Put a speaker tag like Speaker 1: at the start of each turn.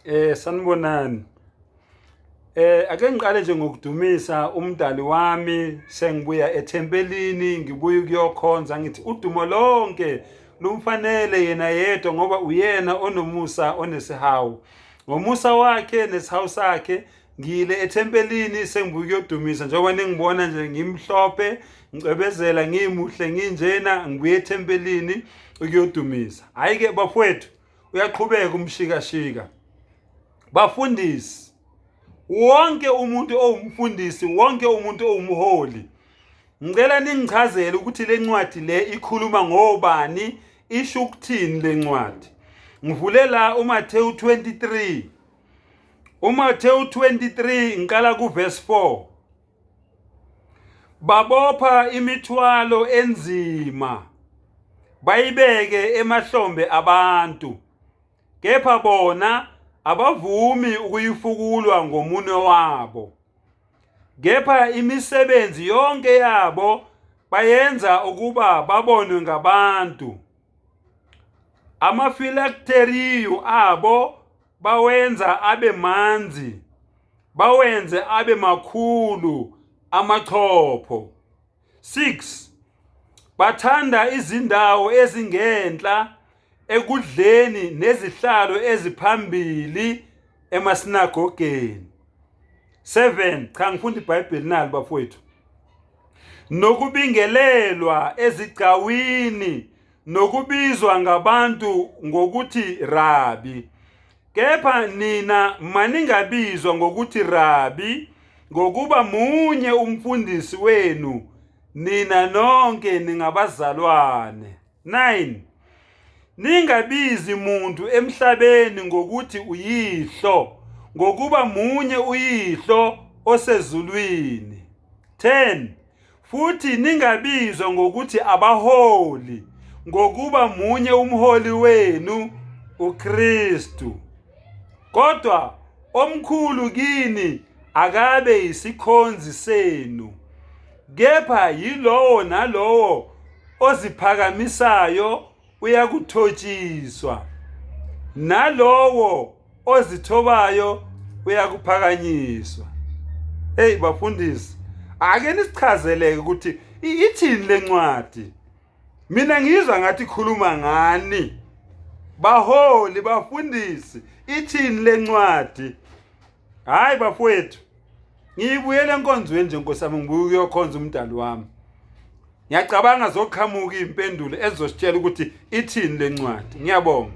Speaker 1: Eh sanibonani. Eh ake ngiqale nje ngokudumisa umdali wami sengibuya ethempelini ngibuye kuyokhonza ngithi udumo lonke lumfanele yena yedwa ngoba uyena onomusa onesihawu. Ngomusa wakhe nesihawu sakhe ngiyile ethempelini sengibuye kuyodumisa njengoba ningibona nje ngimhlophe ngicebezela ngimuhle nginjena ngibuye ethempelini ukuyodumisa. Hayi ke bafowethu uyaqhubeka umshikashika bafundisi wonke umuntu owumfundisi wonke umuntu owumholi ngicela ningichazele ukuthi le ncwadi le ikhuluma ngobani isho ukuthini le ncwadi ngivule la uMathewu 23 uMathewu 23 ngiqala kuverse 4 Babopha imithwalo enzima bayibeke emahlombe abantu kepha bona abavumi ukuyifukulwa ngomunwe wabo. Kepha imisebenzi yonke yabo bayenza ukuba babonwe ngabantu. Amafilakteriyu abo bawenza abe manzi bawenze abe makhulu amachopho 6 bathanda izindawo ezingenhla ekudleni nezihlalo eziphambili emasinagogeni 7 cha ngifunda iBhayibheli nalo bafowethu nokubingelelwa ezigcawini nokubizwa ngabantu ngokuthi Rabi. Kepha nina maningabizwa ngokuthi Rabi, ngokuba munye umfundisi wenu, nina nonke ningabazalwane. 9 Ningabizi muntu emhlabeni ngokuthi uyihlo, ngokuba munye uyihlo osezulwini. 10 Futhi ningabizwa ngokuthi abaholi, ngokuba munye umholi wenu uKristu. Kodwa omkhulu kini akabe yisikhonzi senu, kepha yilowo nalowo oziphakamisayo uyakuthotshiswa nalowo ozithobayo uyakuphakanyiswa hey bafundisi ake nisichazeleke ukuthi ithini lencwadi mina ngizwa ngathi khuluma ngani baholi bafundisi ithini lencwadi hayi bafowethu ngiyibuyele enkonzweni nje nkosi yami ngibuye ukuyokhonza umdali wami ngiyacabanga zoqhamuka iy'mpendulo ezizositshela ukuthi ithini le ncwadi ngiyabonga